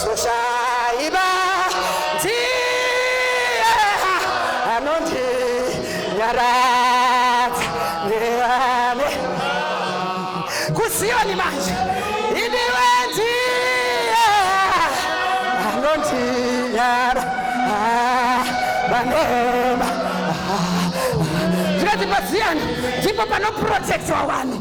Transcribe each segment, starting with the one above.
Soshaiba ndiye anondinyaradza nevame kuzioni manje idiwe ndiye anondinyara vanema zvikati paziyani ndipo panoprotectwa vanhu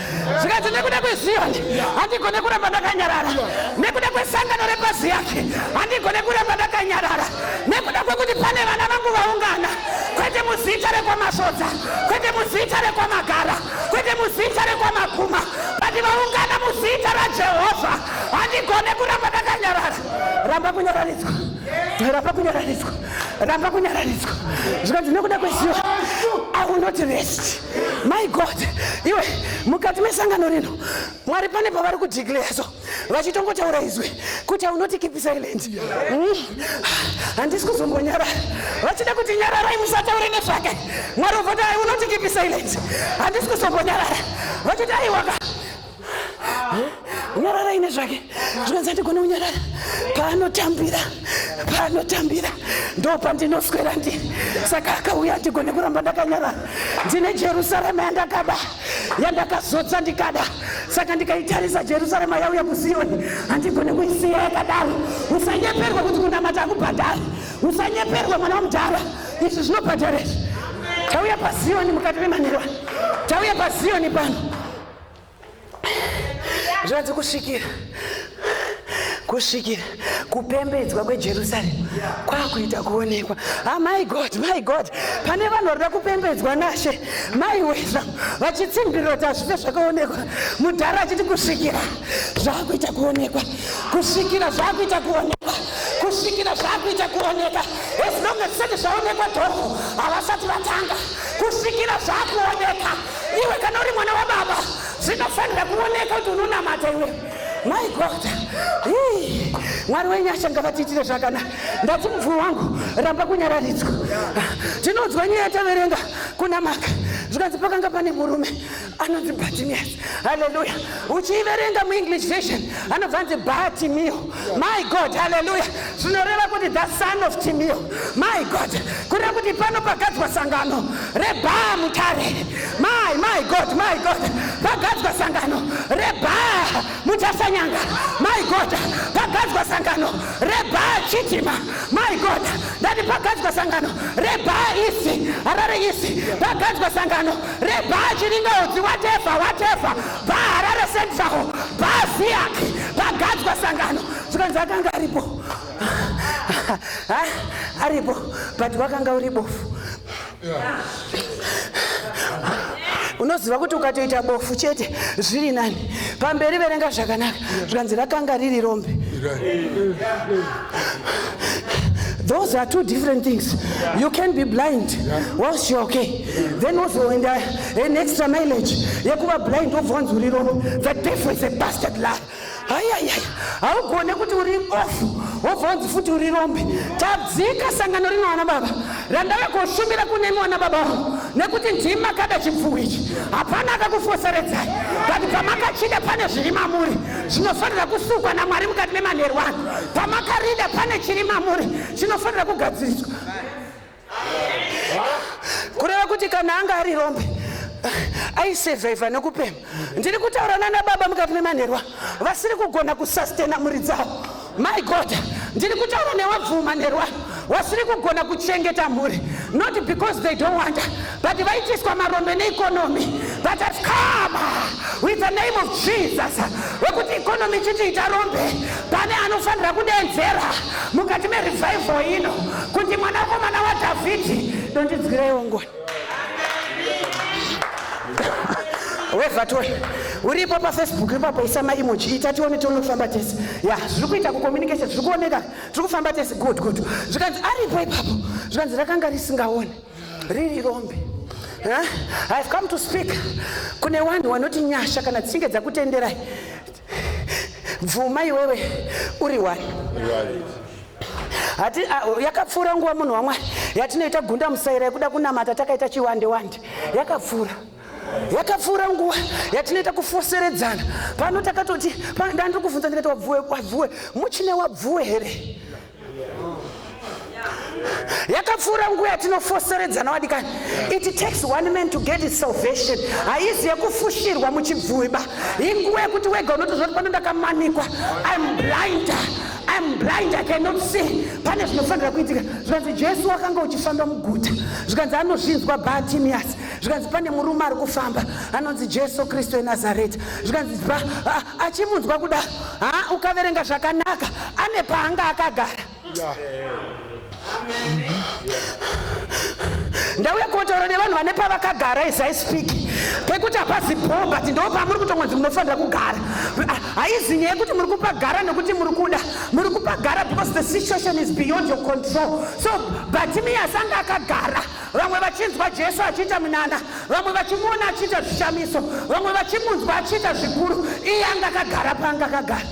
zvikati nekuda kweziyoni handigone kuramba ndakanyarara nekuda kwesangano repazi yake handigone kuramba ndakanyarara nekuda kwekuti pane vana vangu vaungana kwete muzita rekwamasodza kwete muzita rekwamagara kwete muzita rekwamakuma vati vaungana muzita rajehovha handigone kuramba ndakanyarara ramba kunyararidzwa ramba kunyararidzwa ramba kunyararidzwa zvikanzi nekuda kweziyoni aunoti resti my god iwe mukati mesangano rino mwari pane pavari kudeclare so vachitongotaura izwi kuti aunoti keep silent hmm? handisi kuzombonyarara vachida kuti nyararai musataure nezvake mwari uvoti aunoti keep silent handisi kuzombonyarara vachiti aiwaka nyarara ine zvake zvikanzi andigone kunyarara paanotambira paanotambira ndo pandinoswera ndi saka akauya andigone kuramba ndakanyarara ndine jerusarema yandakaba yandakazodza ndikada saka ndikaitarisa jerusarema yauya kusiyoni handigone kuisiya yakadaro usanyeperwa kuti kunamata akubhadhara usanyeperwa mwana wamudhara izvi zvinobhadhara izvi tauya pasiyoni mukati memanherwa tauya pasiyoni pano zvanzi kusvikira kusvikira kupembedzwa kwejerusaremu kwakuita kuonekwa ah, my god my god pane vanhu varida kupembedzwa nashe mai weza vachitsimbirira kuti hazvife zvakaonekwa mudhara achiti kusvikira zvakuita kuonekwa kusvikira zvakuita kuonekwa kusvikira zvakuita kuoneka as long as zvaonekwa dhoko havasati vatanga kusvikira zvakuoneka Iwe kana uri mwana wababa zvinofanira kuoneka kuti unonamata iwe. My God. Hii. Mwari wenyasha ngavatiitire zvakanaka. Ndati mubvumi wangu ramba kunyararidzwa. Tinonzwa nyaya taverenga kuna Maka. Zvikanzi pakanga pane murume anonzi Bartimaeus. Hallelujah. Uchiiverenga muEnglish version anobva anzi Bartimeo. my god haleluya zvinoreva kuti the son of timio my god kureva kuti pano pagadzwa sangano rebhaa mutare my my god my god pagadzwa sangano rebhaa mutasanyanga my god pagadzwa sangano rebhaa chitima my god ndati pagadzwa sangano rebhaa isi harare isi pagadzwa sangano rebhaa chiringaudzi watefa watefa paharare central paviac pagadzwa sangano zvikanzi akanga aripo aripo but wakanga uri bofu unoziva kuti ukatoita bofu chete zviri nani pamberi verenga zvakanaka zvikanzi rakanga riri rombe those are two different things you can be blind whilst you're okay then wozoenda an extra mileage yekuva blind wobva wanzi uri rombo the devil is a bastard lie hayaya haugone kuti uri bofu wobva wanzi futi uri rombe tadzika sangano rino vana baba randave kushumira kunemi vana baba avo nekuti ndimi makada chipfuwo ichi hapana akakufoseredzai but pamakachida pane zviri mamuri zvinofanira kusukwa namwari mukati memanherwano pamakarida pane chiri mamuri chinofanira kugadziriswa kureva kuti kana anga ari rombe aisevhaivha nekupema ndiri kutaura nana baba mukati memanherwa vasiri kugona kusastena mhuri dzavo my god ndiri kutaura newabvuma nherwa wasiri kugona kuchengeta mhuri not because they don't wanta But vaitiswa marombe neeconomy but has come with the name of Jesus wekuti economy chiti ita rombe pane anofanira kudenzera mukati merevival ino kuti mwana wako mwana wadhavhidhi dondidzwireiwo ngoni wevatoi uripo pafacebook ipapo isa maimoji ita tione tione kufamba tese ya zviri kuita kucommunication zviri kuoneka zviri kufamba tese good good zvikanzi aripo ipapo zvikanzi rakanga risingaone riri rombe huh? ihave come to speak kune vanhu vanoti nyasha kana dzichinge dzakutenderai bvuma iwewe uri wani hati ah, yakapfuura nguva munhu wamwari yatinoita gunda musaira yekuda kunamata takaita chiwande wande yakapfuura yakapfuura nguva yatinoita kufoseredzana pano takatoti ndandiri kuvhunza ndikati wabvuwe wabvuwe muchine wabvuwe here yakapfuura nguva yatinofosoredzana wadikani it takes one man to get his salvation haizi yekufushirwa muchibvuiba inguva yekuti wega unotozvati pano ndakamanikwa im blinder im blind i cannot see pane zvinofanira kuitika zvikanzi jesu wakanga uchifamba muguta zvikanzi anozvinzwa batimias zvikanzi pane murume ari kufamba anonzi jesu kristu enazareta zvikanzi ah, achimunzwa kudaro ha ukaverenga zvakanaka ane paanga akagara ndauya kotaura nevanhu vane pavakagara as i speak pekuti hapasi bho but ndo pamuri kutongonzi munofanira kugara Ah, haizi nyaya yekuti muri kupagara nekuti muri kuda muri kupagara because the situation is beyond your control so batimias anga akagara Vamwe vachinzwa Jesu achiita munana, vamwe vachimuona achiita zvishamiso, vamwe vachimunzwa achiita zvikuru, iye anga akagara paanga akagara.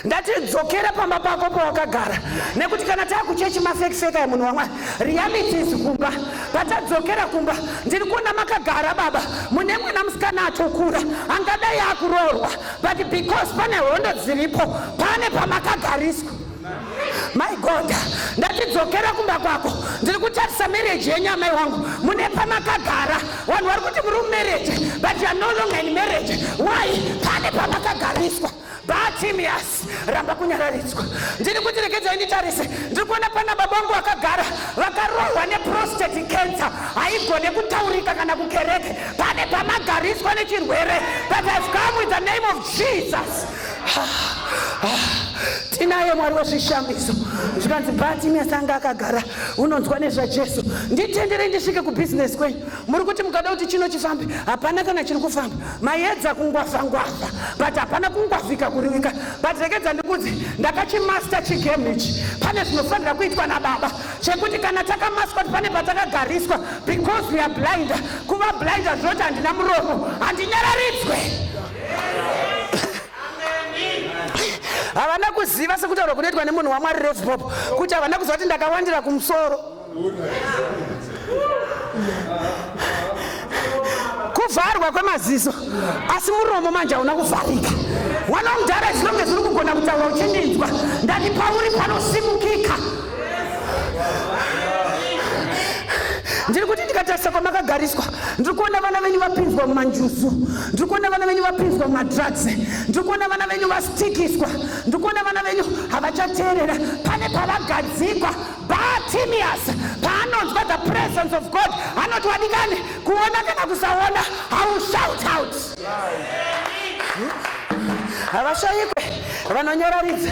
ndati dzokera pamba pako pawakagara nekuti kana takuchechi mafekiseka emunhu wamwari realities kumba patadzokera kumba ndiri kuona makagara baba mune mwana musikana atokura angadai akuroorwa but because pane hondo dziripo pane pamakagariswa my god ndatidzokera kumba kwako ndiri kutarisa mereji yenyu amai wangu mune pamakagara vanhu vari kuti muri mumereji but youare no longer in mereji why pane pamakagariswa batimias ramba kunyararidzwa ndiri kuti regedzai nditarise ndiri kuona pana baba vangu vakagara vakarohwa neprostati cancer haigone kutaurika kana kukereke pane pamagariswa nechirwere but ive come with the name of jesus tinaye mwari wezvishamiso zvikanzi batimes anga akagara unonzwa nezvajesu nditenderei ndisvike kubhizinesi kwenyu muri kuti mukada kuti chino chifambe hapana kana chiri kufamba mayedza kungwavha ngwavha but hapana kungwavhika kurivika but rekedza ndikudzi ndakachimasta chigame ichi pane zvinofanira kuitwa nababa chekuti kana takamaswa ti pane patakagariswa because weare blinder kuva blinder zvinoti handina muromo handinyararidzwe havana kuziva sekutaurwa kunoitwa nemunhu wamwari refbop kuti havana kuziva kuti ndakawandira kumusoro kuvharwa kwemaziso asi muromo manje hauna kuvharika mwana wamudhara zvinonge zviri kugona kutaura uchindinzwa ndati pauri panosimukika ndiri kuti ndikatarisa kwamakagariswa ndiri kuona vana venyu vapinzwa mumanjuzu ndiri kuona vana venyu vapinzwa mumadrugs ndiri kuona vana venyu vastikiswa ndiri kuona vana venyu havachateerera pane pavagadzikwa batimius paanonzwa the presence of god anoti wadikani kuona kana kusaona haushout out havashayikwe vanonyoraridza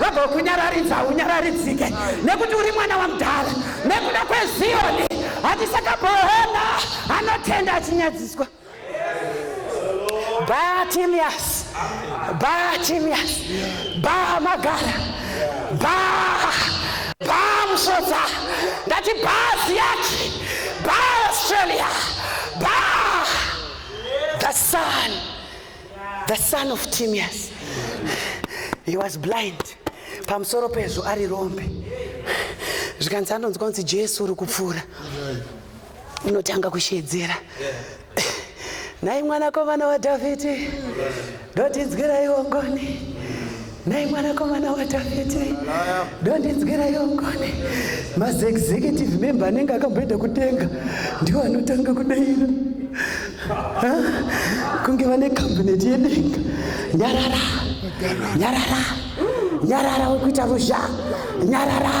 Vabva kunyararidza haunyararidzike nekuti uri mwana wamudhara nekuda kweziyoni hatisakabohona anotenda achinyadziswa batimias batimias ba magara ba ba musodza ndati ba ziyaki ba australia ba the sun the son of timias he was blind pamusoro pezvo ari rombe zvikanzi anonzwa kunzi jesu uri kupfuura unotanga kushedzera nhai mwanakomana wadhavhidhi ndotinzwiraiwo ngoni Nhai mwanakomana waDhavhidhi, ndondinzwirayo ngoni. Maziexecutive member anenge akamboenda kudenga ndiwo anotanga kudaira kunge vane kabineti yedenga. Nyarara, nyarara, nyarara, wekuita ruzha, nyarara.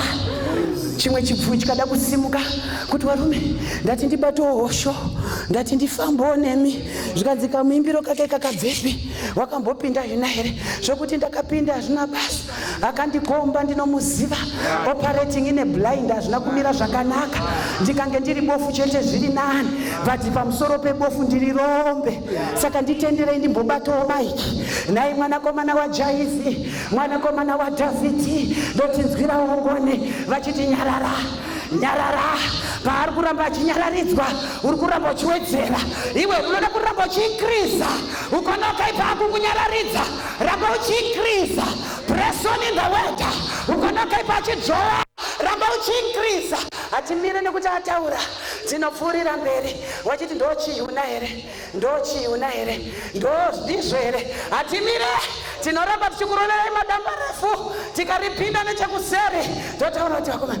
Chimwe chibvu chikada kusimuka kuti varume, ndati ndibatowo hosho, ndati ndifambowo nemi, zvikanzi kamuimbiro kake kakabvepi? wakambopinda zvina here zvekuti ndakapinda hazvina basa akandikomba ndinomuziva operating ine blind hazvina kumira zvakanaka ndikange ndiri bofu chete zviri nani vati pamusoro pebofu ndiri rombe saka nditenderei ndimbobatawo maiki nhai mwanakomana wajaizi mwanakomana wadhavhidhi ndotinzwira ongone vachiti nyarara nyarara paari kuramba achinyararidzwa uri kuramba uchiwedzera iwe unoda kuramba uchiinkriza ukona ukaipa aku kunyararidza ramba uchiinkriza presoni in the word ukona ukaipa achidzowa ramba uchiinkriza hatimire nekuti ataura tinopfuurira mberi wachiti ndo chiuna here ndo chiuna here ndo ndizvo here hatimire tinoramba tichikuroverai madamba refu tikaripinda nechekuseri totaura kuti vakomana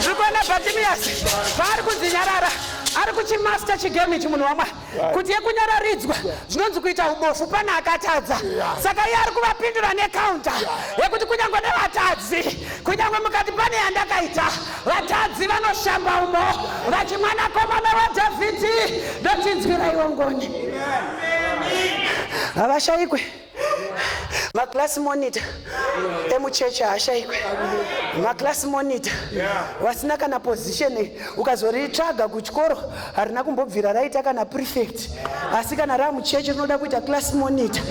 tiri kuona bhatimiyasi paari kudzinyarara ari kuchimasta chigame ichi munhu wamwari kuti yekunyararidzwa zvinonzi kuita ubofu pane akatadza saka iye ari kuvapindura nekaunta yekuti kunyange nevatadzi kunyange mukati pane yandakaita vatadzi vanoshamba umo vati mwanakomana wadhavhidhi ndotinzwiraiwo ngoni havashayikwe yeah. maclass monitor emuchechi haashaikwe maclass monitor vasina kana position ukazoritsvaga kuchikoro harina kumbobvira raita kana prefect asi kana raa muchechi rinoda kuita class monitor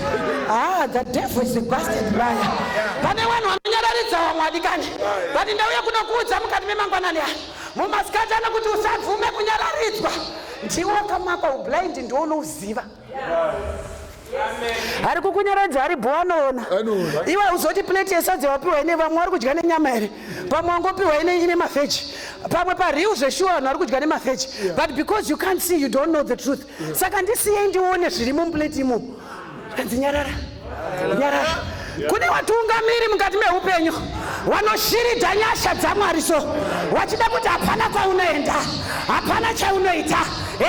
ah the devil is a bastard liar pane vanhu vanonyararidza vamwe adikani vati ndauya kunokuudza mukati memangwanani aya mumasikati anokuti usabvume kunyararidzwa ndiwo kamakwa ublind ndiwo unouziva ari kukunyaradza ari bho anoona iwe uzoti plate yesadza wapiwa ine vamwe wari kudya nenyama here pamwe wangopiwa ine mafeji pamwe pariu zveshuwa vanhu vari kudya nemafeji but because you can't see you don't know the truth saka ndisiyei ndione zviri mumplate imomo kanzi nyarara kune watungamiri mukati meupenyu wanoshiridza nyasha dzamwari so wachida kuti hapana kwaunoenda hapana chaunoita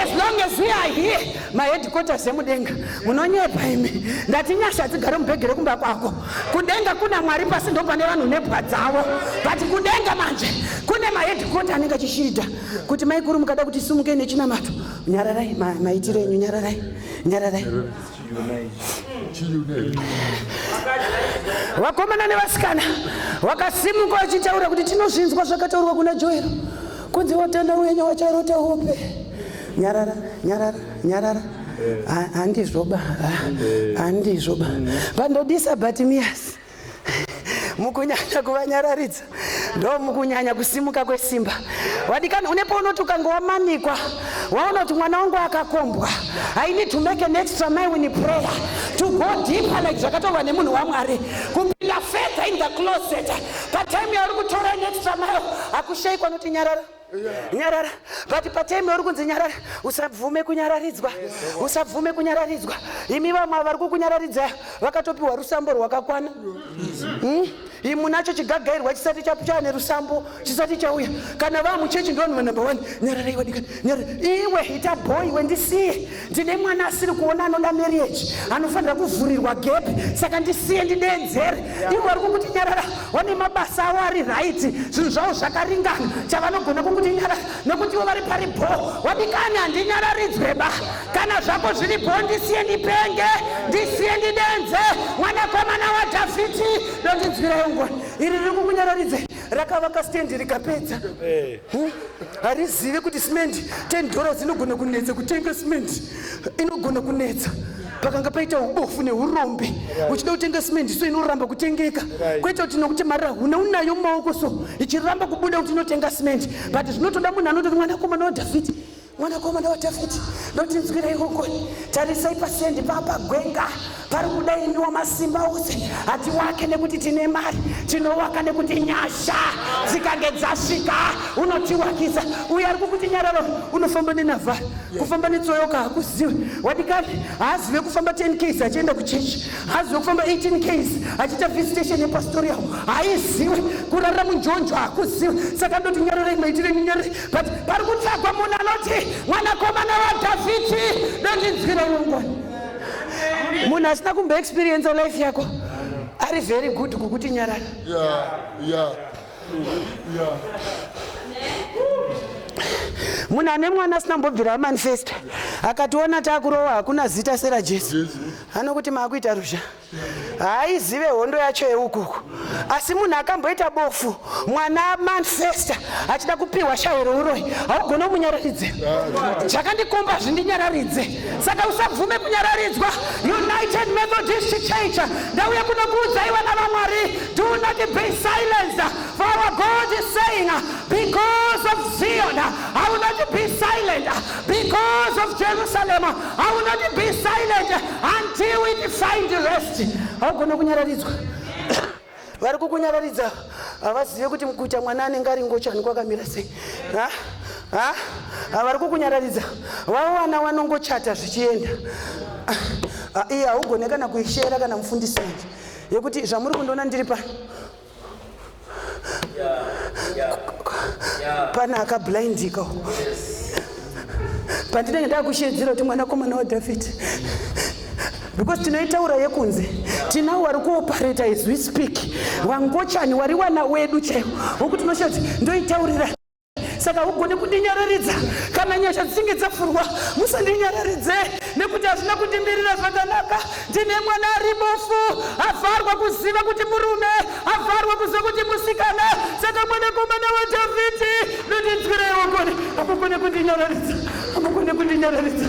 as long as we are here maheadquarters emudenga munonyepa imi ndati nyasha hadzigare mubhegi rekumba kwako kudenga kuna mwari pasi ndo pane vanhu nebwa dzavo but kudenga manje kune maheadquarter anenge achishirida kuti maikuru mukada kuti sumukei nechinamato nyararai maitiro enyu nyararai nyararai vakomana nevasikana wakasimuka wachitaura kuti tinozvinzwa zvakataurwa kuna joero kunzi watana wenye wacharota hope nyarara nyarara nyarara handizvoba handizvoba pandodisa but miyasi mukunyanya kuvanyararidza ndo mukunyanya kusimuka kwesimba wadikana une paunoti ukange wamanikwa waona kuti mwana wangu akakombwa i need to make an extra mile in prayer to go deeper like zvakataurwa nemunhu wamwari kupinda further in the closet patime yauri kutora an extra mile hakushaikwa noti nyarara nyarara but patime yauri kunzi nyarara usabvume kunyararidzwa usabvume kunyararidzwa imi vamwe vari kukunyararidzai vakatopiwa rusambo rwakakwana hmm? imu nacho chigagairwa chisati chapchava nerusambo chisati chauya kana vamuchechi ndovanhu vanumber one nyarara iwadikana nyarara iwe ita boy wendisiye ndine mwana asiri kuona anoda marriage anofanira kuvhurirwa gap saka ndisiye ndideedzere yeah. ivo vari kunguti nyarara vane mabasa avo ari right zvinhu zvavo zvakaringana chavanogona kunguti nyarara nekuti ivo vari pari bho wadikani handinyararidzwe ba kana zvako zviri bho ndisiye ndipenge ndisiye ndidenze mwanakomana wadhavhiti ndondinzwirayo ngoni iri riri kukunyararidze rakavaka stendi rikapedza eh. hm? harizive kuti simendi ten dollars inogona kunetsa kutenga simendi inogona kunetsa pakanga paita ubofu neurombe uchida kutenga simendi so inoramba kutengeka kwaita kuti nokuti mari huna unayo mumaoko so ichiramba kubuda kuti inotenga simendi but zvinotoda munhu anototi mwanakomana wadhavhidhi Mwanakomana waDhavhidhi, ndotinzwirei ngoni, tarisai pasiendi papa gwenga pari kuda imi wamasimba ose. Hatiwake nekuti tine mari, tinowaka nekuti nyasha dzikange dzasvika unotiwakisa. Uye ari kukuti nyararo unofamba nenavha, kufamba netsoyoka hakuziwe. Wadikani haazive kufamba 10 ks achienda kuchechi, haazive kufamba 18 ks achiita visitation yepastori yavo, haiziwe kurara munjonjo hakuziwe. Saka ndoti nyararei maitire nyararei but pari kutsvagwa munhu anoti mwanakomana wadhavhidhi ndondinzwira urongoni munhu asina kumbo experience life yako ari very good kukuti nyarara yeah, yeah. Yeah. munhu ane mwana asina mbobvira amanifesta akationa taakurowa hakuna zita sera jesu anokuti maakuita ruzha yeah. haaizive hondo yacho yeukuku asi munhu akamboita bofu mwana manfesta achida kupiwa shawe rouroyi haugone kumunyararidze zvakandikomba zvindinyararidze saka usabvume kunyararidzwa united methodist church ndauya kunokuudzai vana vamwari do not be silence for our god is saying because of zion i will not be silent Because of Jerusalem, I will not be silent until we find rest. Haugone kunyararidzwa. Vari kukunyararidza havazive kuti mukuita mwana anenge ari ngochani kwakamira sei. Ha? Ha? Vari kukunyararidza. Vawana wanongochata zvichienda. Iye haugone kana kuishera kana mufundisi yekuti zvamuri kundiona ndiri pano. pane akablindika pandinenge ndakushedzera kuti mwanakomana wadhavhidhi because tinoitaura yekunze tinawo wari kuopareta as we speak wangochani wari wana wedu chaiwo wokuti unoshe kuti ndoitaurira saka ugone kundinyararidza kana nyasha dzichinge dzafurwa musandinyararidze nekuti hazvina kundimirira zvakanaka ndine mwana ari bofu avharwa kuziva kuti murume avharwa kuziva kuti musikana saka mwanakomana wadhavhidhi ndondinzwirewo kone amukone kundinyararidza amukone kundinyararidza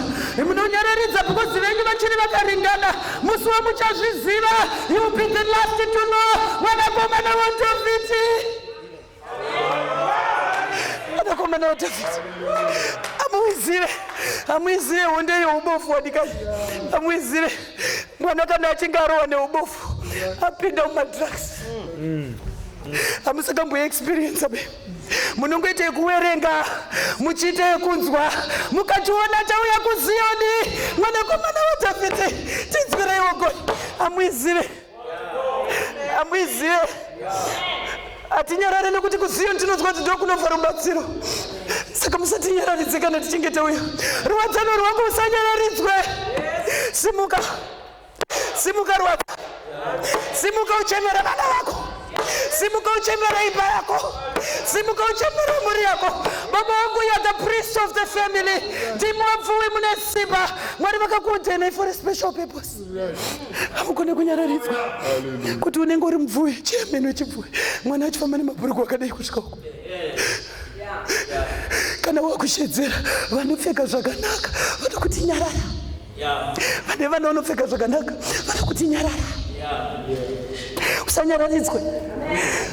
munonyararidza bhukozi venyu vachiri vakaringana musi wamuchazviziva you be the last to know mwanakomana wadhavhidhi Anakomana waDhavhidhi amuizire, amuizire honde youbofu wadikai, amuizire mwana kana achinge arohwa neubofu apinda mumadrugs mm. hamusakamboya experience be munongoita yekuwerenga muchiita yekunzwa mukationa tauya kuziyoni mwanakomana wadhavhidhi tinzwireiwo goni amwizire amwizive hatinyarare nekuti kuziyo ndinonzwa kuti ndokunobva rubatsiro saka musatinyararidze kana tichinge tauya ruwadzano rwangu usanyararidzwe simuka simuka rwadza simuka uchemera vana vako simuka uchemera imba yako simuka uchemera mhuri yako baba vangu ya the priest of the family ndimwabvuwi mune simba mwari vakakuudenai for a special purpose hamugone kunyararidzwa kuti unenge uri mubvuwe chiyameno wechibvuwe mwana achifamba nemabhurugu akadai kusvika uko kana wakushedzera vanopfeka zvakanaka vanokuti nyarara vane vana vanopfeka zvakanaka vanokuti nyarara usanyararidzwe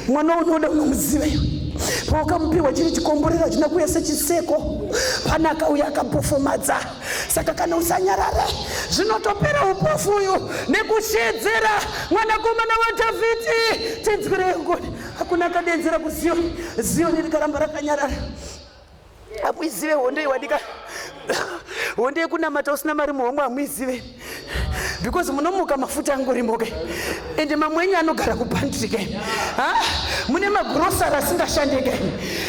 mwana unoda unomuziva iwe paukamupiwa chiri chikomborero achina kuuya sechiseko panaka uyo akapofomadza saka kana usanyarare zvinotopera upofu uyu nekushedzera mwanakomana wadhavhidhi tinzwi reyongoni hakuna akadenzera kuziyoni ziyoni rikaramba rakanyarara hamuizive hondo iwadika hondo yekunamata usina mari muhomwe hamuizive because munomuka mafuta angorimo ke and mamwe enyu anogara kupantry ke ha mune magrosari asingashande ke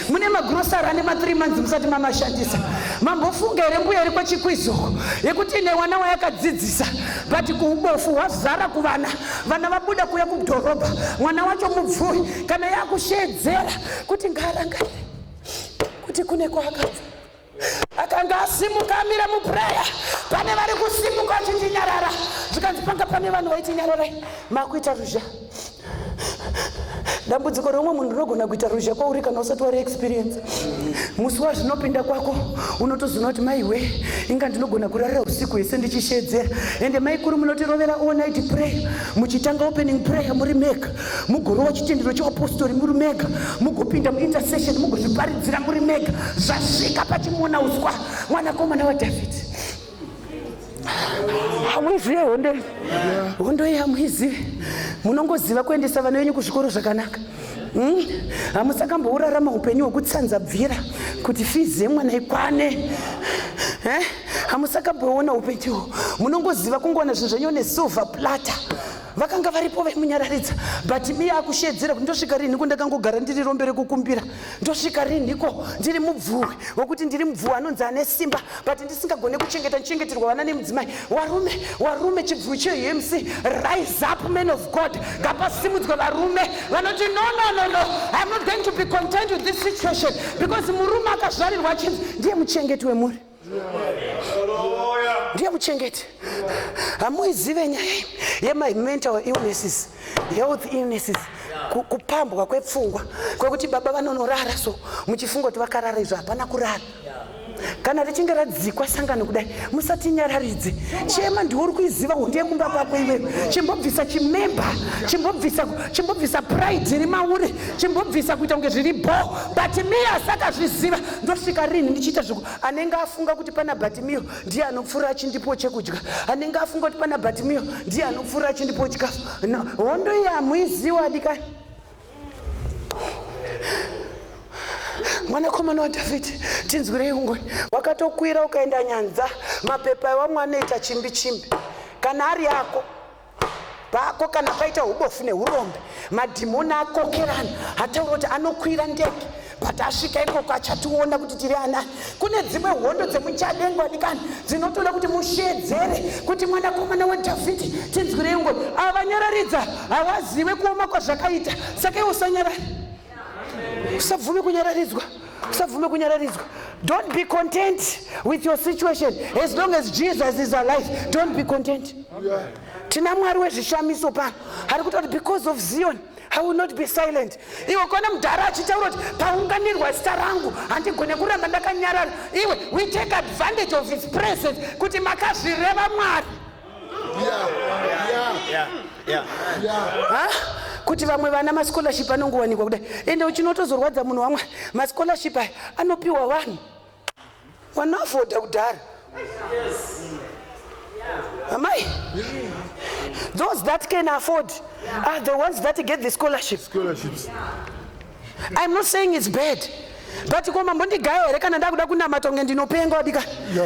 mune magrosari ane mathree months musati mamashandisa mambofunga here mbuya iri kwechikwizuko yekuti ine wana wayakadzidzisa but kuubofu hwazara kuvana vana vabuda kuya kudhorobha mwana wacho mubvuri kana yakusheedzera kuti ngaarangarire kuti kune kwaakabva akanga asimuka amira mupureya pane vari kusimuka vachindinyarara zvikanzi panga pane vanhu vaitinyararai makuita ruzha dambudziko reumwe munhu rinogona kuita ruzha kwauri kana usati wari experience musi wazvinopinda kwako unotozoona kuti maiwe inga ndinogona kurarira usiku hwese ndichishedzera ende maikuru munotirovera all night prayer muchitanga opening prayer muri make mugorova chitendero cheupostori muri mega mugopinda muintercession mugozviparidzira muri mega zvasvika pachimona uswa mwanakomana wadhavhidhi hamuizive hondo hondo iyi hamuizive munongoziva kuendesa vana venyu kuzvikoro zvakanaka hmm? hamusakambourarama upenyu hwekutsanza bvira kuti fizi yemwana ikwane eh? hamusakamboona upenyu munongoziva kungoona zvinhu zvenyu nesilver platter vakanga varipo vaimunyararidza but iye akushedzera kuti ndosvika rinhiko ndakangogara ndiri rombe rekukumbira ndosvika rinhiko ndiri mubvuwi wekuti ndiri mubvuwi anonzi ane simba but ndisingagone kuchengeta ndichengeterwa vana nemudzimai warume warume chibvuwi cheumc rise up man of god ngapasimudzwe varume vanoti no no no no iam not going to be content with this situation because murume akazvarirwa achinzi ndiye muchengeti wemuri ndiye muchengeti hamuizive nyaya yemai mental illnesses health illnesses kupambwa kwepfungwa kwekuti baba vanonorara so muchifunga kuti vakarara izvo hapana kurara kana richinge radzikwa sangano kudai musatinyararidze chema ndiwo uri kuiziva hondi yekumba kwako iwewe chimbobvisa chimemba chimbobvisa chimbobvisa pride iri mauri chimbobvisa kuita kunge zviri bho but miya sakazviziva ndosvika rinhi ndichiita zviku anenge afunga kuti pana batimiyo ndiye anopfuura achindipo chekudya anenge afunga kuti pana batimiyo ndiye anopfuura achindipo chikafu no hondo iyi hamuiziwa dikani mwanakomana wadhavhidhi tinzwirei ungoni wakatokwira ukaenda nyanza mapepa iwamwe anoita chimbi chimbi kana ari ako pako kana paita ubofu neurombe madhimoni akokerana hataura kuti anokwira ndege but asvika ikoko achationa kuti tiri anani kune dzimwe hondo dzemuchadengo adikani dzinotoda kuti mushedzere kuti mwanakomana wadhavhidhi tinzwirei ngoni avanyararidza havazive kuoma kwazvakaita saka iwo sanyarari usabvume kunyararidzwa usabvume kunyararidzwa don't be content with your situation as long as jesus is alive don't be content tina mwari wezvishamiso pano ari kuta kuti because of zion i will not be silent iwe kona mudhara achitaura kuti paunganirwa zita rangu handigone kuramba ndakanyarara iwe we take advantage of his presence kuti makazvireva mwari kuti vamwe vana mascholarship anongowanikwa kudai ende uchinotozorwadza munhu wamwe mascholarship aya anopiwa vanhu wanoafodha kudhara amai those that can afford are the ones that get the scholarships, scholarships. Yeah. I'm not saying it's bad but ko mambondigayo here kana ndakuda kunamata kunge ndinopenga wadika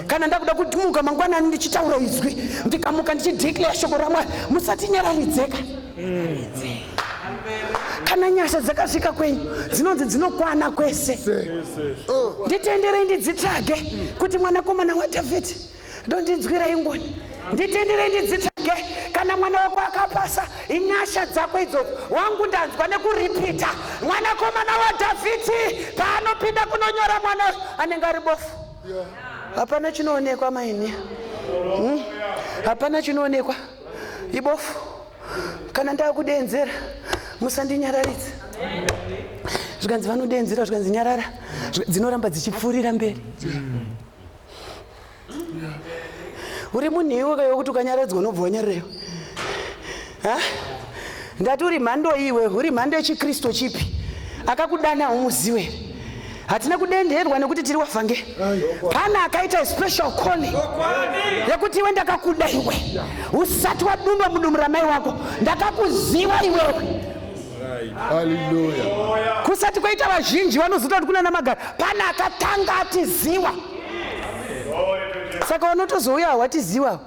kana ndakuda kutimuka mangwanani ndichitaura izwi ndikamuka ndichideclare shoko ramwari musatinyararidzeka kana nyasha dzakasvika kwenyu dzinonzi dzinokwana kwese nditenderei ndidzitsvage kuti mwanakomana wadhavhidhi ndondinzwirai ngoni nditendere ndidzitsvage kana mwana wako akapasa inyasha dzako idzodzo wangu ndanzwa nekuripita mwanakomana wadhavhidhi paanopinda kunonyora mwana anenge ari bofu hapana chinoonekwa maini hmm? hapana chinoonekwa ibofu kana ndakudenzera musandinyararidza zvikanzi vanodenzera zvikanzi nyarara dzinoramba dzichipfuurira mberi uri munhu iwe kaiwe kuti ukanyaradzwa unobva wanyarira ha ndati uri mhando iwe uri mhando yechikristu chipi akakudana umuziwe hatina kudenderwa nekuti tiri wavhange pane akaita special calling yekuti iwe ndakakuda iwe usati wadumba mudumbu ramai wako ndakakuziva iwewe kusati kwaita vazhinji vanozoita kuti kunana magari pana akatanga atiziwa saka vanotozouya hawatiziwa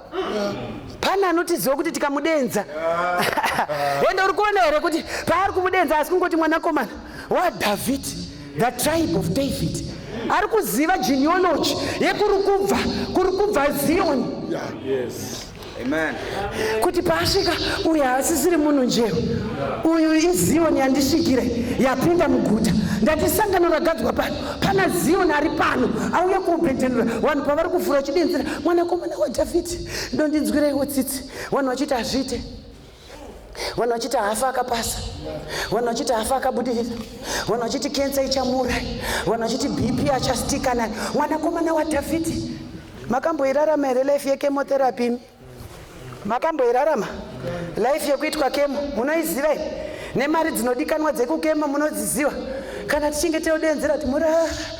pana anotiziwa kuti tikamudenza ende uri kuona here kuti paari kumudenza asi kungoti mwanakomana wadhavhidhi the tribe of david ari kuziva genealogy yekuri kubva kuri kubva zioni yeah, yes. Amen. kuti paasvika uyu haasisiri munhu njero uyu iziyoni yandisvikire yapinda muguta ndati sangano ragadzwa pano pana ziyoni ari pano auya kuubhedhenura vanhu pavari kuvhura chidenzera mwanakomana wadhavhidhi ndondinzwireiwo tsitsi vanhu vachiti hazviite vanhu vachiti hafa akapasa vanhu vachiti hafa akabudirira vanhu vachiti kensa ichamuurai vanhu vachiti bp achastika nayo mwanakomana wadhavhidhi makamboirarama here life yekemotherapy imi makamboirarama life yekuitwa kemo munoiziva i nemari dzinodikanwa dzekukema munodziziva kana tichinge teodenzera kuti mura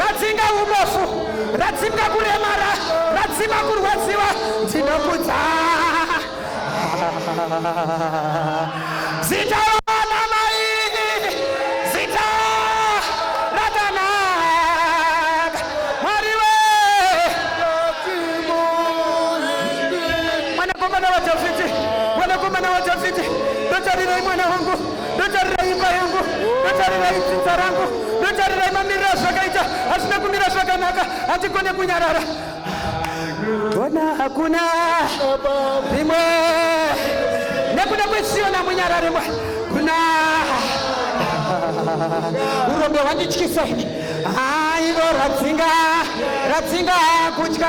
radzinga ubofu radzinga kuremara radzinga kurwadziwa ndinokudza zita vanamai zita rakanaka mwari we mwanakomana wadhavhidhi mwanakomana wadhavhidhi ndotarirei mwana wangu ndotarira imba yangu ndotarira idzidza rangu ndotarira imamirira zvakaita hazvina kumira zvakanaka handigone kunyarara ona hakuna rimwe nekuda kwesiona munyara rimwe kuna urombe hwandityisa ini aivo radzinga radzinga kutya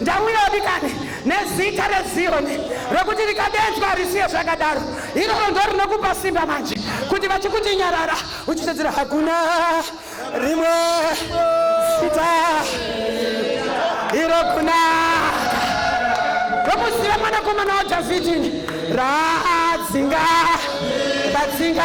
Ndamwira vadikani nezita reZiyoni rekuti rikadedzwa risiye zvakadaro. Iroro ndo rinokupa simba manje kuti vachikuti nyarara uchitedzera hakuna rimwe zita iro kuna rokuziva mwanakomana waDhavhidhi radzinga radzinga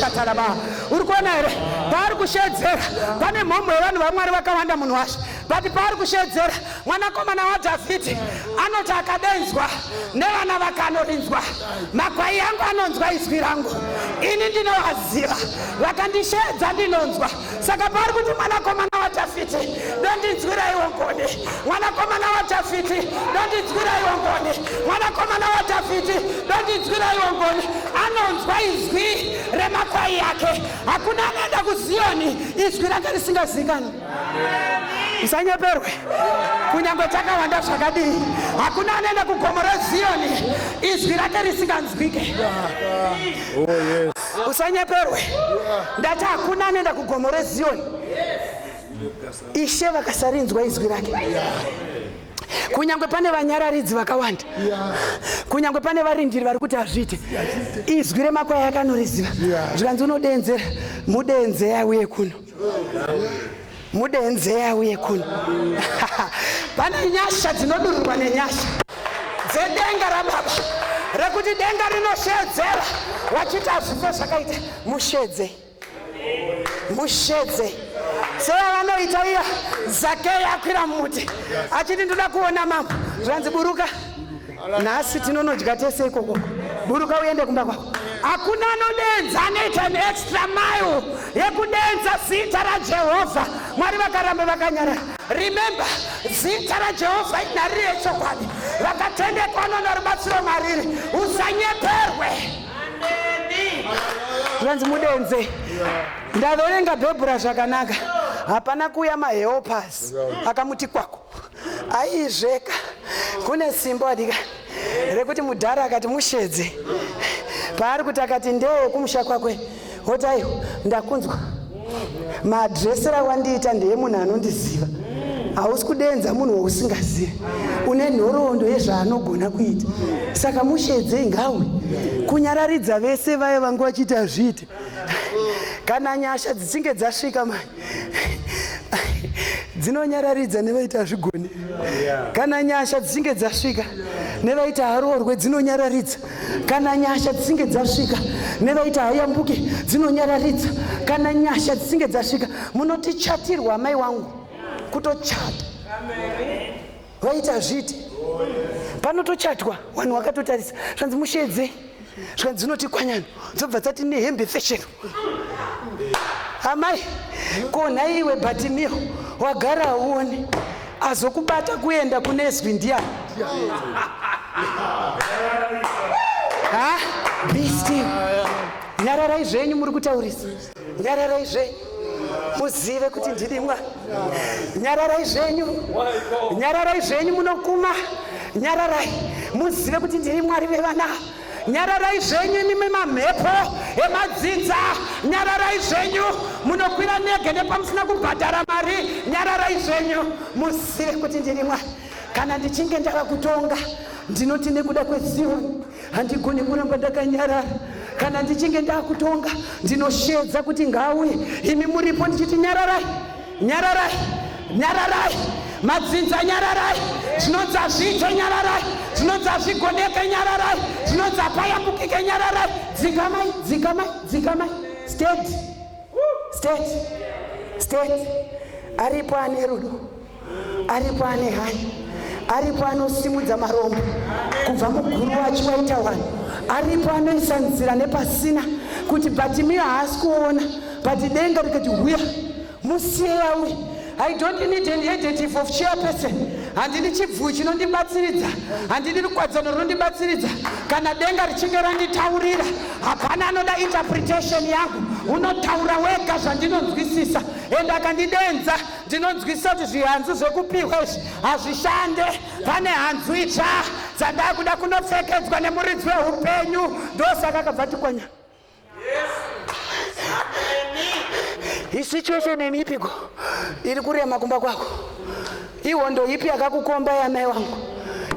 shataraba uri kuona here paari kushedzera pane mhomho yevanhu vamwari vakawanda munhu washe but paari kushedzera mwanakomana wadhavhidhi anoti akadenzwa nevana vakanorinzwa makwai angu anonzwa izwi rangu ini ndinovaziva vakandisheedza ndinonzwa saka paari kuti mwanakomana wadhavhidhi ndondinzwiraiwo ngoni mwanakomana wadhavhidhi ndondinzwiraiwo ngoni mwanakomana wadhavhidhi ndondinzwiraiwo ngoni anonzwa izwi remakwai yake hakuna anoenda kuziyoni izwi rake risingazikani musanyeperwe kunyange takawanda zvakadii hakuna anoenda kugomo reziyoni izwi rake risinganzwike oh, usanyeperwe ndati hakuna anoenda kugomo reziyoni ishe vakasarinzwa izwi rake kunyange pane vanyararidzi vakawanda kunyange pane varindiri vari kuti hazviite izwi remakwai akanoriziva zvikanzi unodenzera mudenze yauye kuno mudenzeya uye kuno pane nyasha dzinodururwa nenyasha dzedenga rababa rekuti denga rinoshedzera wachiti hazvife zvakaita mushedze mushedze seya vanoita iya zakeya akwira mumuti achiti ndoda kuona mambo zvanzi buruka nhasi tinonodya tese ikoko buruka uende kumba kwako hakuna anodenza anoita an extra mile yekudenza zita rajehovha mwari vakaramba vakanyarara remember zita rajehovha inhari rechokwadi vakatendekwa noona rubatsiro mariri usanyeperwe zvanzi mudenze ndave unenga bhebhura zvakanaka hapana kuuya mahelpers akamuti kwako aizveka kune simba wadika rekuti mudhara akati mushedze paari kuti akati ndewe kumusha kwakwe woti aiwa ndakunzwa maadresera wandiita ndeye munhu anondiziva hausi kudenza munhu wausingazive une nhoroondo yezvaanogona kuita saka mushedzei ngawe kunyararidza vese vaye vanga vachiita zviite kana nyasha dzichinge dzasvika mani dzinonyararidza nevaiti hazvigoni kana nyasha dzichinge dzasvika nevaiti haroorwe dzinonyararidza kana nyasha dzichinge dzasvika nevaiti hayambuke dzinonyararidza kana nyasha dzichinge dzasvika munoti chatirwa amai wangu kutochata vaiti hazviiti panotochatwa wanhu wakatotarisa zvanzi mushedze zvikanzi dzinoti kwanyana dzobva dzati nehembe feshero amai ko nhai iwe batimio wagara auone azokubata kuenda kune zwi ndiyani ha be still nyararai zvenyu muri kutaurisa nyararai zvenyu muzive kuti ndini mwari nyararai zvenyu nyararai zvenyu munokuma nyararai muzive kuti ndini mwari vevana nyararai zvenyu imimi mamhepo emadzinza nyararai zvenyu munokwira nege nepamusina kubhadhara mari nyararai zvenyu muzive kuti ndini mwari kana ndichinge ndava kutonga ndinoti nekuda kwezioni handigoni kuramba ndakanyarara kana ndichinge ndakutonga ndinoshedza kuti ngauye imi muripo ndichiti nyararai nyararai nyararai madzinza nyararai zvinonzi azviite nyararai zvinonzi azvigoneke nyararai zvinonzi apayambukike nyararai dzikamai dzikamai dzikamai state state state aripo ane rudo aripo ane hanya aripo anosimudza marombo kubva muguru wacho waita wani aripo anoisa nzira nepasina kuti batimiyo haasi kuona bati denga rikati huya musiye yauye i don't need an adjective of chairperson handini chibvuu chinondibatsiridza handini rukwadzano runondibatsiridza kana denga richinge randitaurira hapana anoda interpretation yangu unotaura wega zvandinonzwisisa ende akandidenza Ndinonzwisisa kuti zvihanzu zvekupihwa izvi hazvishande. Pane hanzu itsva dzandakuda kunopfekedzwa nemuridzi wehupenyu ndosaka akabva tikwanya. Isituation yenyu ipiko iri kurema kumba kwako? Ihondo ipi yakakukomba yamai wangu?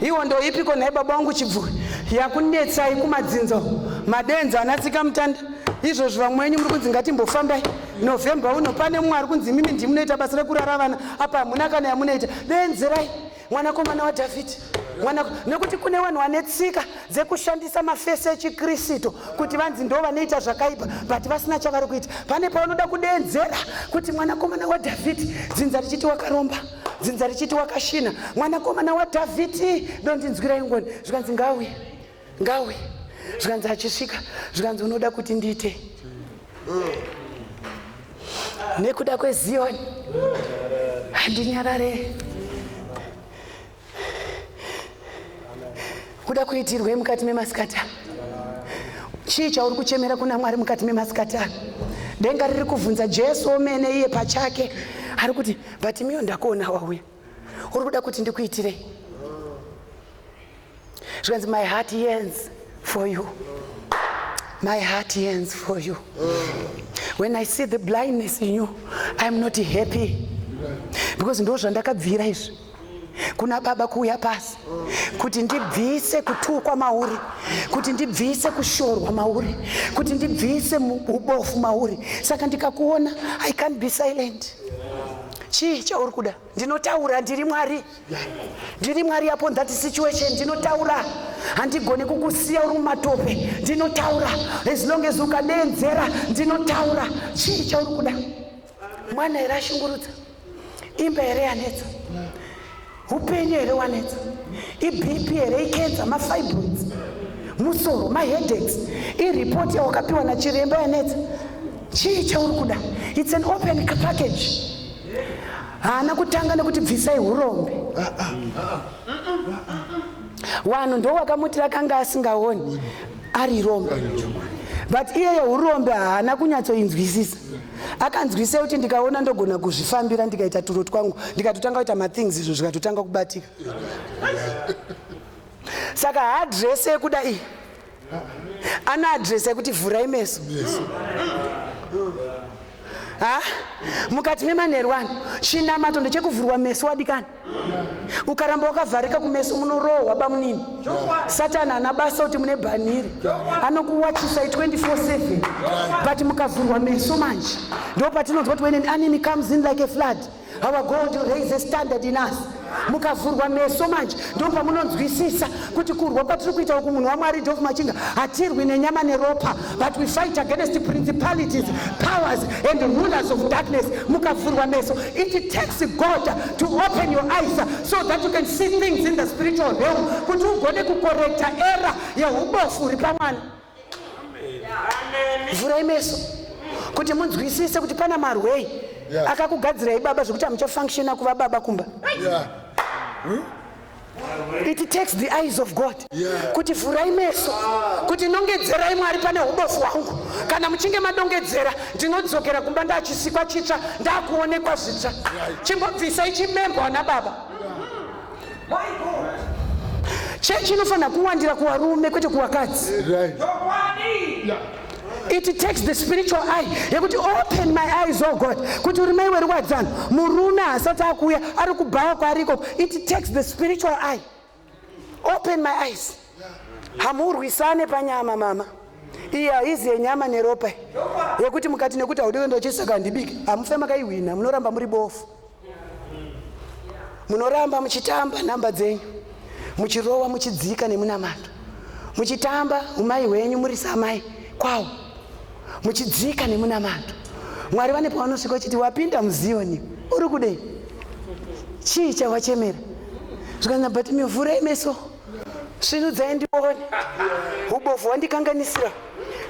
Ihondo ipiko nhai baba wangu chibvuri yakunetsai kumadzinza madenza anatsika mutanda izvozvo vamwe venyu muri kunzi ngatimbofambai November uno pane mumwe ari kunzi imimi ndimunoita basa rekurara vana apa hamuna kana yamunoita deenzerai mwanakomana wadhavhidhi mwana nekuti kune vanhu vane tsika dzekushandisa mafesi echikristu kuti vanzi ndo vanoita zvakaipa but vasina chavari kuita pane paunoda kudeedzera kuti mwanakomana wadhavhidhi dzinza richiti wakaromba dzinza richiti wakashina mwanakomana wadhavhidhi ndondinzwirai ngoni zvikanzi ngauye ngauye zvikanzi achisvika zvikanzi unoda kuti ndiite nekuda kweziyoni handinyarare kuda kuitirwei mukati memasikata chii chauri kuchemera kuna mwari mukati memasikata denga riri kuvhunza jesu omene iye pachake ari kuti batimiyo ndakuona wauya uri kuda kuti ndikuitirei zvikanzi my heart yearns for you my heart yearns for you when i see the blindness in you iam not happy because ndo zvandakabvira izvi kuna baba kuuya pasi kuti ndibvise kutukwa mauri kuti ndibvise kushorwa mauri kuti ndibvise ubofu mauri saka ndikakuona i can't be silent chii chauri kuda ndinotaura ndiri mwari ndiri mwari upon that situation ndinotaura handigoni kukusiya uri mumatope ndinotaura as long as ukadeedzera ndinotaura chii chauri kuda mwana here ashungurudza imba here yanetsa Upenyu here wanetsa? IBP here ikenza mafibroids? Musoro maheadaches? Ireport yawakapiwa nachiremba yanetsa? Chii chauri kuda? It's an open package. Haana kutanga nekuti bvisai hurombe. Ah, ah, ah, vanhu ndo vakamutira akanga asingaoni ari rombe but iye yeurombe haana kunyatsoinzwisisa akanzwisei kuti ndikaona ndogona kuzvifambira ndikaita turo twangu ndikatotanga kuita mathings izvo zvikatotanga kubatika saka haadress yekuda iyi ana adress yekuti vhurai meso ha mukati memanherwani chinamato ndechekuvhurwa meso wadikani ukaramba wakavharika kumeso munorohwa bamunini satani ana basa kuti mune bhanhiri anokuwachisa 24/7 but mukavhurwa meso manje ndo patinonzwa kuti when an enemy comes in like a flood our god raise a standard in us mukavhurwa meso manje ndo pamunonzwisisa kuti kurwa kwatiri kuita uku munhu wamwari dof machinga hatirwi nenyama neropa but we fight against principalities powers and rulers of darkness mukavhurwa meso it takes god to open your eyes so that you can see things in the spiritual realm kuti ugone kukorekta era yeubofu uri pamwana vhurai meso kuti munzwisise kuti pana marwei yeah. akakugadzirai baba zvekuti amuchafunctiona kuva baba kumba yeah. hmm? it takes the eyes of god yeah. kuti vhurai meso kuti nongedzerai mwari pane ubofu hwangu kana muchinge madongedzera ndinodzokera kumba ndachisikwa chitsva ndakuonekwa zvitsva chimbobvisai chimembo ana baba yeah. Chechi inofanira kuwandira kuvarume kwete kuvakadzi. It takes the spiritual eye yekuti open my eyes oh God kuti uri mai werwadzano murume haasati akuuya ari kubhawa kwaari ikoko. It takes the spiritual eye. Open my eyes. hamurwisane panyama mama iyi haizi yenyama neropa yekuti mukati nekuti haudi kuenda uchisaka handibiki hamufe makaihwina munoramba muri bofu munoramba muchitamba nhamba dzenyu muchirowa muchidzika nemunamato muchitamba umai hwenyu muri samai kwawo muchidzika nemunamato mwari vane pavanosvika uchiti wapinda muziyoni uri kudei chii chawachemera zvikanzi but mivhura imeso Svinudzai ndione. Hubofu hwandikanganisira.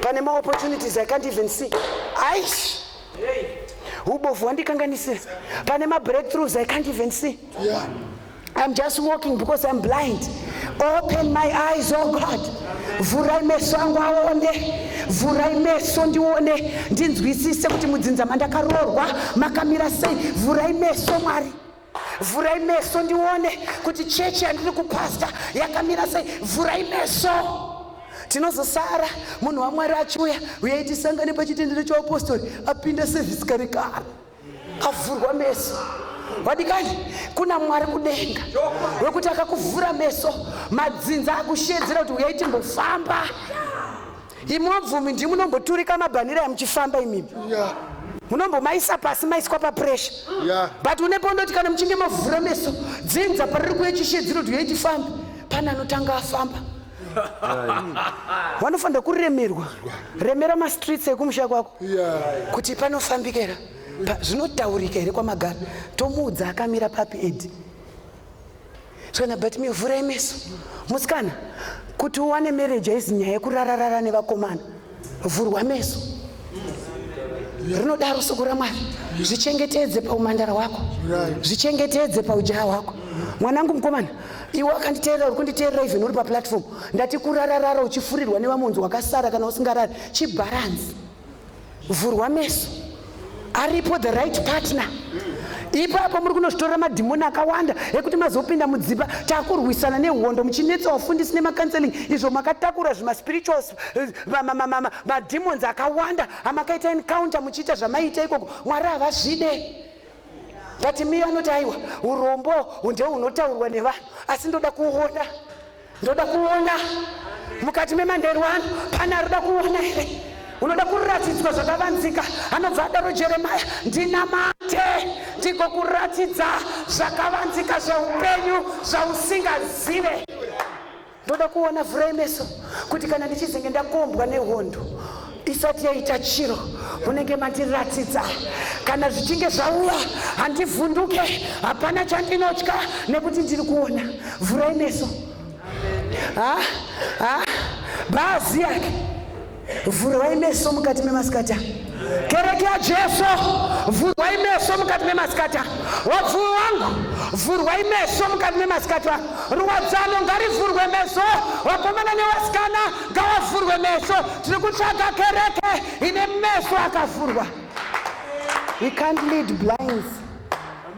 Pane ma opportunities I can't even see. Aish. Hubofu hwandikanganisira. Pane ma breakthroughs I can't even see. I'm just walking because I'm blind. Open my eyes, oh God. Vhurai meso angu aone. vhurai meso ndione ndinzwisise kuti mudzinza mandakaroorwa makamira sei vhurai meso mwari Vhurai meso ndione kuti chechi yandiri kupasta yakamira sei. Vhurai meso. Tinozosara munhu waMwari achiuya uye itisangane pachitendero chaupostori apinda sevhisi kare kare avhurwa meso vadikani kuna mwari kudenga wekuti akakuvhura meso madzinza akushedzera kuti uyai timbofamba Imi wabvumi ndimi munomboturika mabhanira muchifamba imimi. Yeah. Munombomaisa pasi maiswa papresha. Yeah. But une pondoti kana muchinge mavhura meso dzinza pariri kuye chishe dzinoti uyai tifambe pane anotanga afamba. Wanofanira kuremerwa. Remera mastreets ekumusha kwako. Yeah. Kuti panofambikera. Zvinotaurika here kwamagara. Tomuudza akamira papi Ed. Sona but me vhura imeso musikana kuti uwane marriage haizi nyaya yekurararara nevakomana vhurwa meso rinodaro soko ramwari zvichengetedze paumandara hwako zvichengetedze paujaya hwako mwanangu mukomana iwe akanditeerera uri kunditeerera even uri paplatform ndati kurararara uchifurirwa nevamonzi wakasara kana usingarari chibharanzi vhurwa meso aripo the right partner ipapo muri kunozvitorera madhimoni akawanda ekuti mazopinda mudzimba takurwisana nehondo muchinetsa wafundisi nemacounseling izvo makatakura zvimaspirituals eh, madhimons akawanda amakaita encounter muchiita zvamaiita ikoko mwari havazvide but miyo anoti aiwa urombo ndehunotaurwa nevanhu asi ndoda kuona Ndoda kuona mukati memanheru ano pane arikuda kuona here unoda kuratidzwa zvakavanzika anobva adaro jeremaya ndinamate ndigokuratidza zvakavanzika zveupenyu zvausingazive ndoda kuona vhurai meso kuti kana ndichizenge ndakombwa nehondo isati yaita chiro munenge mandiratidza kana zvichinge zvauya handivhunduke hapana chandinotya nekuti ndiri kuona vhurai meso bhazi yake vhurwai meso mukati memasikati kereke yajesu vhurwai meso mukati memasikati wabvu wangu vhurwai meso mukati memasikati ruwadzano ngarivhurwe meso wakomana newasikana ngavavhurwe meso tiri kutsvaga kereke ine meso akavhurwa we can't lead blinds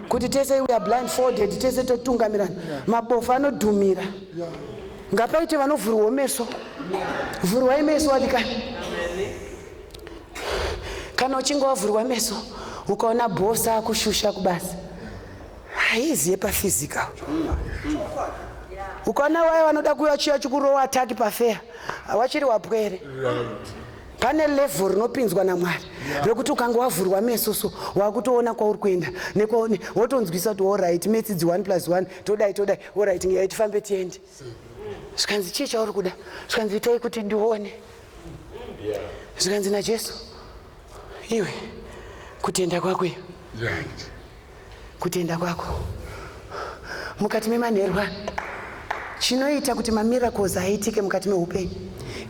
kuti tese we are blindfolded tese totungamirana mabofu anodhumira ngapaite vanovhurwawo meso vhurwai meso wadikani kana uchinge wavhurwa meso ukaona bosa kushusha kubasa haiziye pafizika ukana waya vanoda kuya chiya chikurowa ataki pafeya wachiri wapwere pane levhel rinopinzwa namwari rekuti ukanga wavhurwa meso so wakutoona kwauri kuenda nekwaone wotonzwisa kuti orit metsidzi one plus one todai todai orit ngeya tifambe tiende zvikanzi chii chauri kuda zvikanzi itai kuti ndione zvikanzi najesu iwe kutenda kwako iyo kutenda kwako mukati memanherwa chinoita kuti mamiracles aitike mukati meupenyu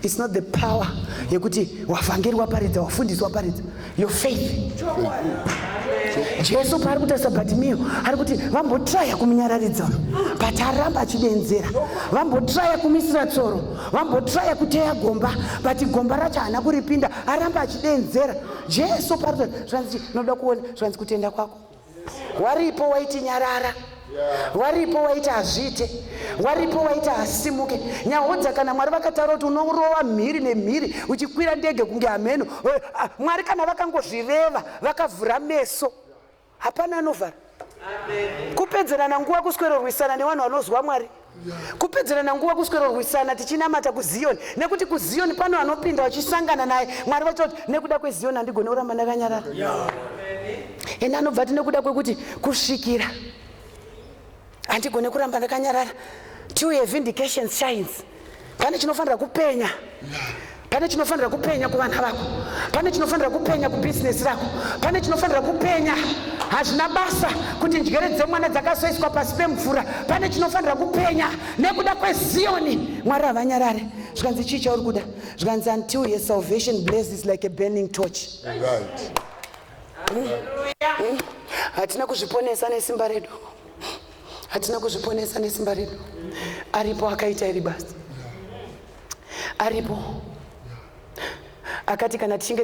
It's not the power yekuti wavhangeri waparidza wafundisi waparidza your faith jesu paari kutarisa batimiyo ari kuti vambotraya kumunyararidza but aramba achidenzera vambotraya kumisira tsoro vambotraya kuteya gomba but gomba racho haana kuripinda aramba achidenzera jesu paari zvanzi noda kuona zvanzi kutenda kwako waripo waiti nyarara waripo waiti hazviite waripo waiti hasimuke nyahodza kana mwari vakataura kuti unorova mhiri nemhiri uchikwira ndege kunge hameno eh, ah, mwari kana vakangozvireva vakavhura meso hapana anovhara kupedzerana nguva kuswerorwisana nevanhu vanozwa mwari kupedzerana nguva kuswerorwisana tichinamata kuziyoni nekuti kuziyoni pano vanopinda vachisangana naye mwari vachoti nekuda kweziyoni handigone kuramba ndakanyarara ende anobva ati nekuda kwekuti kusvikira handigone kuramba ndakanyarara tiuye vindication shines pane chinofanira kupenya pane chinofanira kupenya kuvana vako pane chinofanira kupenya kubhizinesi rako pane chinofanira kupenya hazvina basa kuti njere dzemwana dzakazoiswa pasi pemvura pane chinofanira kupenya nekuda kweziyoni mwari havanyarare zvikanzi chii chauri kuda zvikanzi until your salvation blazes like a burning torch hatina kuzviponesa nesimba redu hatina kuzviponesa nesimba redu aripo akaita iri basa aripo akati kana tichinge